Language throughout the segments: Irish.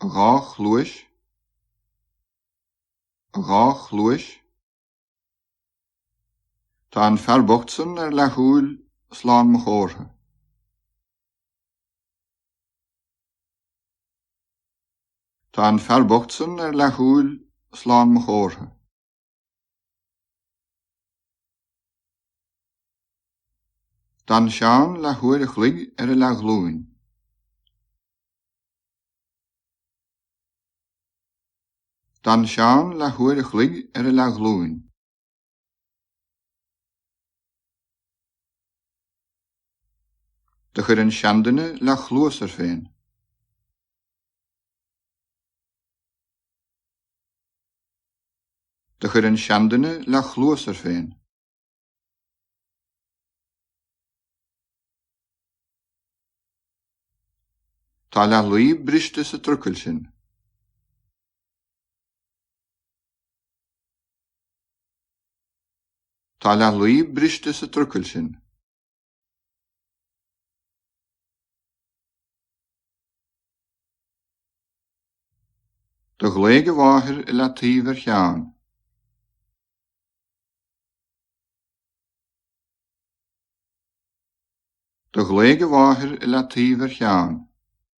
Dhá chluais, dhá chluais. Tá an fear bocht san ar leathshúil, slán mo chomhartha. Tá an fear bocht san ar leathshúil slán mo chomhartha. D'fhan Seán leathuair a chloig ar a leathghlúin. D'fhan Seán leathuair a chloig ar a leathghlúin. Do chuir an seanduine leathchluas air féin. Do chuir an seanduine leathchluas air féin. Tá leath luí briste sa trucail sin. Tá leathlaí briste sa trucail sin. Do ghlaoigh a mháthair i leataoibh ar Sheán. Do ghlaoigh a mháthair i leataoibh ar Sheán.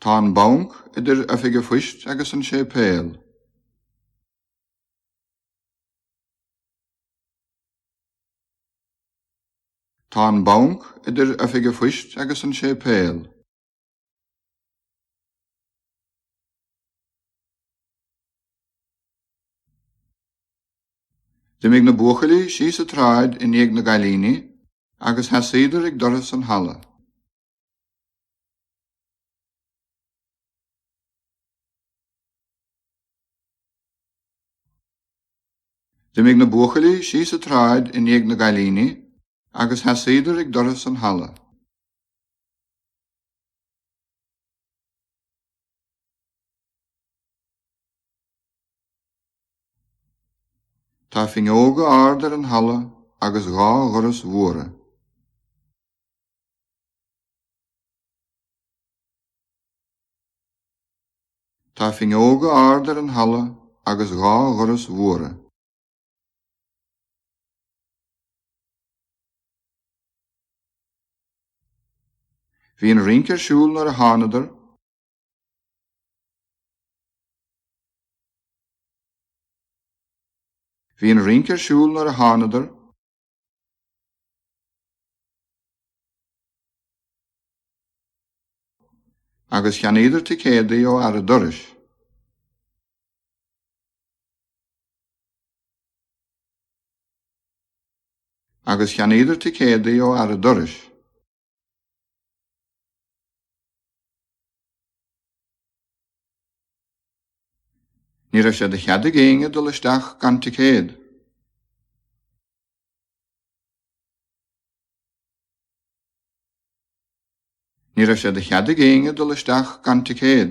Tá an banc idir Oifig a Phoist agus an séipéal. Tá an banc idir Oifig a Phoist agus an séipéal. D'imigh na buachaillí síos a tsráid i ndiaidh na gcailíní agus sheasaíodar ag doras an halla. D'imigh na buachaillí síos a tsráid i ndiaidh na gcailíní. Agus sheasaíodar ag doras an halla. Tá finneóga árd ar an halla agus dhá dhoras mhóra. Tá finneóga árd ar an halla agus dhá dhoras mhóra. Bhí an rince ar siúl nuair a thánadar. Bhí an rince ar siúl nuair a thánadar. Agus cheannaíodar ticéadaí ó fhear a' dorais. Agus cheannaíodar ticéadaí ó fhear a' dorais. Ní raibh sé de chead ag éinne dul isteach gan ticéad. Ní raibh sé de chead ag éinne dul isteach gan ticéad.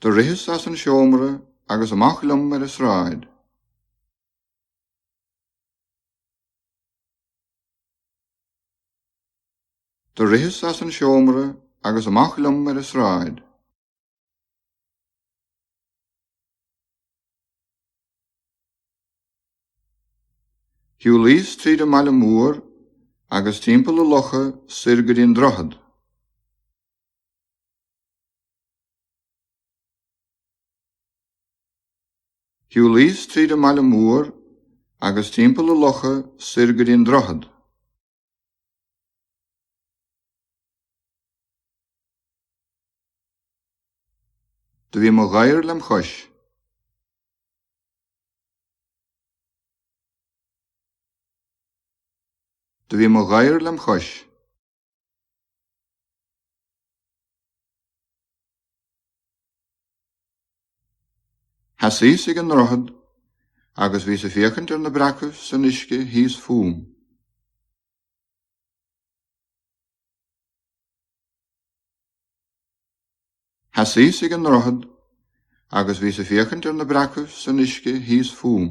Do ritheas as an seomra agus amach liom ar an sráid. Do ritheas as an seomra agus amach liom ar an sráid. Shiúlaíos tríd an mbaile mór agus timpeall na locha soir go dtí an droichead. Shiúlaíos tríd an mbaile mór agus timpeall na locha soir go dtí an droichead. Do bhí mo ghadhar lem' chois. Do bhí mo ghair lem' chois. Sheasas ag an ndroichead agus bhíos ag féachaint ar na breacaibh san uisce thíos fúm. Sheasas ag an ndroichead agus bhíos ag féachaint ar na breacaibh san uisce thíos fúm.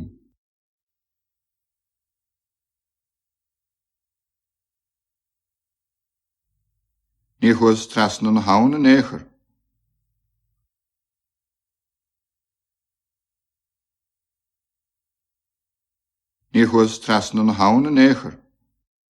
Ní chuas trasna na habhann in aon chor. Ní chuas trasna na habhann in aon chor.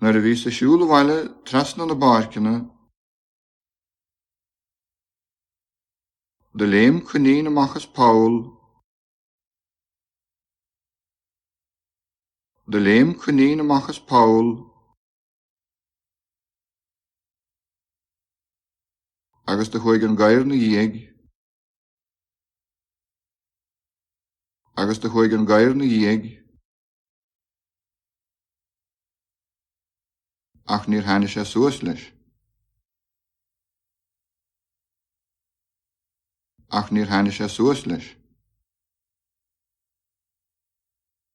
Nuair a bhíos ag siúl abhaile trasna na bpáirceanna do léim coinín amach as poll do léim coinín amach as poll agus do chuaidh an gadhar 'na dhiaidh. Agus do chuaidh an gadhar 'na dhiaidh ach níor tháinig sé suas leis. Ach níor tháinig sé suas leis.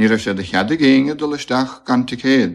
Ní raibh sé de chead ag éinne dul isteach gan ticéad.